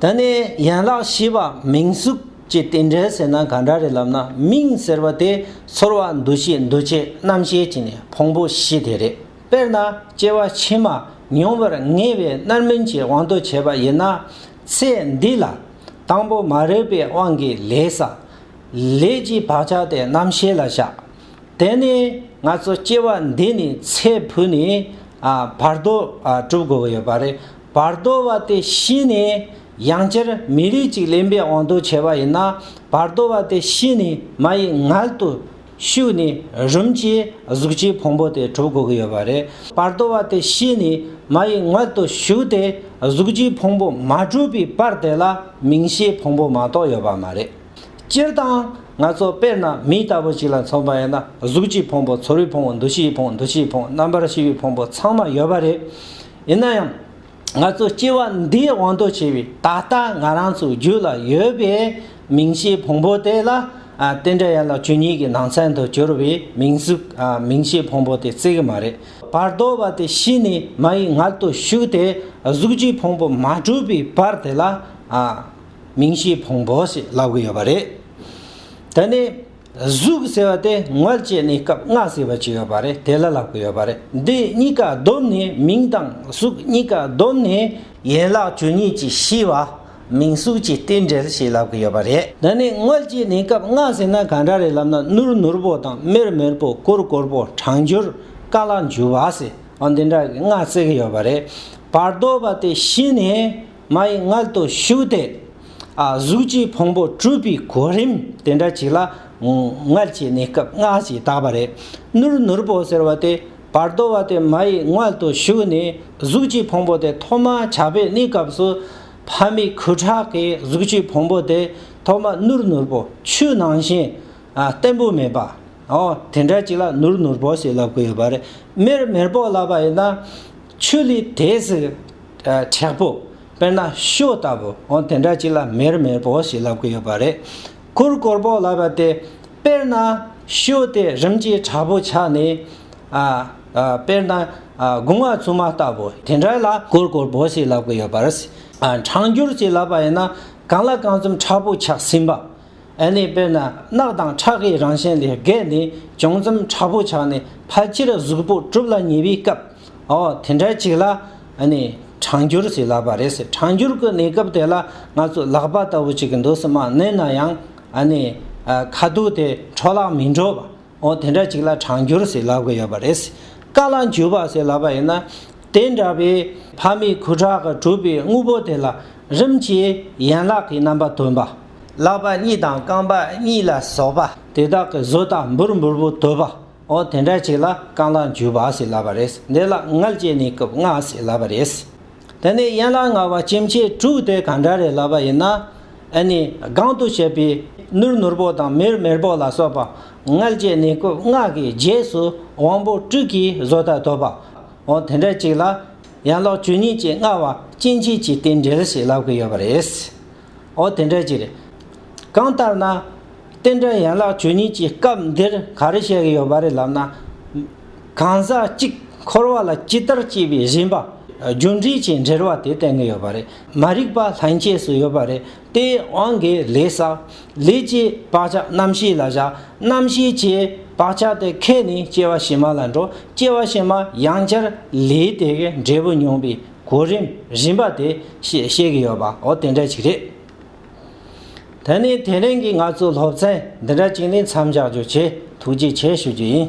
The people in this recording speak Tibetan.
ད་ནི་ཡན་ལག་བཞི་པ་མིང་གཟུགས་ཀྱི་རྟེན་འབྲེལ་ཟེར་ན་ག་འདྲ་རེད་ལབ་ན་མིང་ཟེར་བ་དེ་ཚོར་བ་འདུ་ཤེས་འདུ་བྱེད་རྣམ་ཤེས་ཀྱི་ནི་ཕུང་པོ་བཞི་དེ་རེད། དཔེར་ན་སྐྱེ་བ་ཕྱི་མ་མྱོང་བར་ངེས་པའི་རྣར་མིན་གྱི་དབང་དུ་བྱས་པ་ཡིན་ན། ཚེ་འདི་ལ་དང་པོ་མ་རིག་པའི་དབང་གིས་ལས་བསགས། ལས་ཀྱི་བག་ཆགས་དེ་རྣམ་ཤེས་ལ་བཞག། དེ་ནི་ང་ཚོ་སྐྱེ་བ་འདི་ནས་ཚེ་འཕོས་ནས་བར་དོ་གྲུབ་དགོས་ཀྱི་ཡོད་པ་རེད། བར་དོ་བ་དེ་ཤི་ནས་ཡང་སྤྱིར་མི་རིགས་ཅིག་ལེན་པའི་དབང་དུ་བྱས་པ་ཡིན་ན་བར་དོ་བ་དེ་ཤི་ནས་མ་ཡི་མངལ་དུ་ཞུགས་ནས་རུམ་གྱིས་གཟུགས་ཀྱི་ཕུང་པོ་དེ་གྲུབ་དགོས་ཀྱི་ཡོད་པ་རེད། བར་དོ་བ་དེ་ཤི་ནས་མ་ཡི་མངལ་དུ་ཞུགས་ཏེ་གཟུགས་ཀྱི་ཕུང་པོ་མ་གྲུབ་པའི་བར་དེ་ལ་མིང་ཤའི་ཕུང་པོ་མ་གཏོགས་ཡོད་པ་མ་རེད། སྤྱིར་བཏང་ང་ཚོ་དཔེར་ན་མི་ལྟ་བུ་ཅིག་ལ་མཚོན་པ་ཡིན་ན་གཟུགས་ཀྱི་ཕུང་པོ་ཚོར་བའི་ཕུང་པོ་འདུ་ཤེས་ཀྱི་ཕུང་པོ་འདུ་བྱེད་ཀྱི་ཕུང་པོ་རྣམ་པར་ཤེས་པའི་ཕུང་པོ་ཚང་མ་ཡོད་པ་རེད། ཡིན་ན་ཡང། ང་ཚོ་སྐྱེ་བ་འདིའི་དབང་དུ་བྱས་པའི་ད་ལྟ་ང་རང་ཚོའི་རྒྱུད་ལ་ཡོད་པའི་མིང་གཞིའི་ཕུང་པོ་དེ་ལ། དེ་འདྲ་ཡིན་ལ་བཅུ་གཉིས་ཀྱི་ནང་ཚན་དུ་གྱུར་བའི་མིང་གཟུགས་མིང་གཞིའི་ཕུང་པོ་དེ་རྩི་གི་མ་རེད། བར་དོ་བ་དེ་ཤི་ནས་མ་ཡི་མངལ་དུ་ཞུགས་ཏེ་གཟུགས་ཀྱི་ཕུང་པོ་མ་གྲུབ་པའི་བར་དེ་ལ། མིང་གཞིའི་ཕུང་པོ་ཞེས་ལབ་གི་ཡོད་པ་རེད། དེ་ནི། གཟུགས་ཟེར་བ་དེ་ངོས་བཅས་ནས་སྐབས་ལྔ་ཟེར་བ་ཅིག་ཡོད་པ་རེད་དེ་ལ་ལག་པ་ཡོད་པ་རེད་འདི་གཉིས་ཀ་བསྡོམས་ནས་མིང་དང་གཟུགས་གཉིས་ཀ་བསྡོམས་ནས། ཡན་ལག་བཅུ་གཉིས་ཀྱི་ཤེས་པ་མིང་གཟུགས་ཀྱི་རྟེན་འབྲེལ་ཞེས་ལབ་ཀྱི་ཡོད་པ་རེད། འདི་ནི་ངོས་བཅས་ནས་སྐབས་ལྔ་ཟེར་ན་གང་འདྲ་རེད་ལབ་ན་ནུར་ནུར་པོ་དང་མེར་མེར་པོ་གུར་གུར་པོ་གྲང་འགྱུར་དཀའ་སླ་འཇུ་བ་ཟེར་བ་འདི་འདྲ་གི་ལྔ་བརྩི་གི་ཡོད་པ་རེད་བར་དོ་བ་དེ་ཤི་ནས། མ་ཡི་མངལ་དུ་ཞུགས་ཏེ། གཟུགས་ཀྱི་ཕུང་པོ་སྤྲུལ་པའི་གོ་རིམ་དེ་འདྲ་ཞིག་ལ། མངལ་གྱི་གནས་སྐབས་སྔ་ཞིག་དག་པ་རེད། ནུར་ནུར་པོ་ཟེར་བ་དེ་བར་དོ་བ་དེ་མ་ཡི་མངལ་དུ་ཞུགས་ནས་གཟུགས་ཀྱི་ཕུང་པོ་དེ་ཐོག་མ་ཆགས་པའི་གནས་སྐབས་སུ། ཕ་མའི་ཁུ་ཁྲག་གིས་གཟུགས་ཀྱི་ཕུང་པོ་དེ་ཐོག་མ་ནུར་ནུར་པོ་ཆུ་ནང་བཞིན། བརྟན་པོ་མེད་པ། འོ་དེ་འདྲ་ཞིག་ལ་ནུར་ནུར་པོ་ཞེས་ལབ་ཀི་ཡོད་པ་རེད། མེར་མེར་པོ་ལབ་པ་ཡིན་ན། ཆུ་ལི་དེ་སི་དྲེག་པོ་དཔེར་ན་ཤོ་ལྟ་བུ་འོ་དེ་འདྲ་ཅིག་ལ་མེར་མེར་པོ་ཞིག་ལབ་གི་ཡོད་པ་རེད། ཁུར་གོར་པོ་ལབ་པ་དེ་དཔེར་ན་ཤོ་དེ་རིམ་གྱིས་དྲག་པོ་ཆགས་ནས། དཔེར་ན་དགུང་བ་ཆུང་མ་ལྟ་བུ་དེ་འདྲ་ལ་ཁུར་གོར་པོ་ཞིག་ལབ་གི་ཡོད་པ་རེད། གྲང་འགྱུར་ཅིག་ལབ་པ་ཡིན་ན་གང་ལ་གང་འཚམ་དྲག་པོ་ཆགས་ཟིན་པ། ཨེ་ནས་དཔེར་ན་རྣག་དང་ཁྲག་གི་རང་བཞིན་ལས་བརྒལ་ནས་བྱུང་ཙམ་དྲག་པོ་ཆགས་ནས་ཕ་སྤྱིར་གཟུགས་པོ་གྲུབ་ལ་ཉེ་བའི་སྐབས་འོ་དེ་འདྲ་ཅིག་ལ་ཨེ་ནས་གྲང་འགྱུར་ཟེར་ལབ་པ་རེད་ཟེར་གྲང་འགྱུར་གྱི་གནས་སྐབས་དེ་ལ་ང་ཚོ་ལག་པ་ལྟ་བུ་ཅིག་འདུག་སྲིད་མ་གནས་ན་ཡང་ཨེ་ནས་ཁ་སྡུག་དེ་འཕྲོ་བརླག་མི་འགྲོ་བ་འོ་དེ་འདྲ་ཅིག་ལ་གྲང་འགྱུར་ཟེར་ལབ་གི་ཡོད་པ་རེད་ཟེར་དཀའ་ལ་འགྱུར་བ་ཟེར་ལབ་པ་ཡིན་ན་དེ་འདྲ་བའི་ཕ་མའི་ཁུ་ཁྲག་གིས་གྲུབ་པའི་དངོས་པོ་དེ་ལ་རིམ་གྱིས་ཡན་ལག་གི་རྣམ་པ་སྟོན་པ། ལག་པ་གཉིས་དང་རྐང་པ་གཉིས་ལ་སོགས་པ། དེ་དག་གི་བཟོ་ལྟ་འབུར་འབུར་པོ་དོད་པ། འོ་དེ་འདྲ་ཅིག་ལ་རྐང་ལག་འཇུ་བ་ཟེར་ལབ་པ་རེད། འདི་ལ་མངལ་སྐྱེས་ནི་རྐུབ་མངལ་ཟེར་ལབ་པ་རེད། དེ་ནས་ཡན་ལག་ལྔ་བ་སྐྱེ་མཆེད་དྲུག་དེ་གང་འདྲ་རེད་ལབ་པ་ཡིན་ན། ཨེ་ནི་སྒང་དུ་བྱས་པའི་ནུར་ནུར་པོ་དང་མེར་མེར་པོ་ལ་སོགས་པ། མངལ་སྐྱེས་ནི་རྐུབ་མངལ་གྱི་རྗེས་སུ་དབང་པོ་དྲུག་གི་བཟོ་ལྟ་དོད་པ། འོ་དེ་འདྲ་ཅིག་ལ། ཡན་ལག་བཅུ་གཉིས་ཀྱི་མངལ་བ་སྐྱེ་མཆེད་ཀྱི་རྟེན་འབྲེལ་ཞིག་ལབ་ཀྱི་ཡོད་པ་རེད། ཨོ་དེ་འདྲ་ཅིག་རེད། གང་ལྟར་ན། རྟེན་འབྲེལ་ཡན་ལག་ཆོས་ཉིད་ཀྱི་སྐབས་འདིར་ག་རེ་བཤད་ཀྱི་ཡོད་པ་རེད་ལབ་ན། གང་ཟག་གཅིག་འཁོར་བ་ལ་ཅི་ལྟར་སྐྱེས་པའི་རིམ་པ། རྒྱུ་འབྲས་ཀྱི་འབྲེལ་བ་དེ་བསྟན་གྱི་ཡོད་པ་རེད། མ་རིག་པ་ལྷན་སྐྱེས་སུ་ཡོད་པ་རེད་དེ། དབང་གི་ལས་ས། ལས་ཀྱི་བག་ཆགས་རྣམ་ཤེས་ལ་བཞག། རྣམ་ཤེས་ཀྱི་བག་ཆགས་དེ་ཁད་ནས་སྐྱེ་བ་ཕྱི་མ་ལ་འགྲོ། སྐྱེ་བ་ཕྱི་མ་ཡང་བསྐྱར་ལས་དེ་གའི་འབྲས་བུ་མྱོང་པའི་གོ་རིམ་བཞིན་པ་དེ་ཤེས་བཤད་ཀྱི་ཡོད་པའོ་དེ་འདྲ་ཅིག་རེད། ད་ནི་དེ་རིང་གི་ང་ཚོའི་སློབ་ཚན་འདི་འདྲ་ཅིག་ནི་མཚམས་འཇགས་རྒྱུ་ཆེད་ཐུགས་རྗེ་ཆེ་ཞུ་རྒྱུ་ཡིན།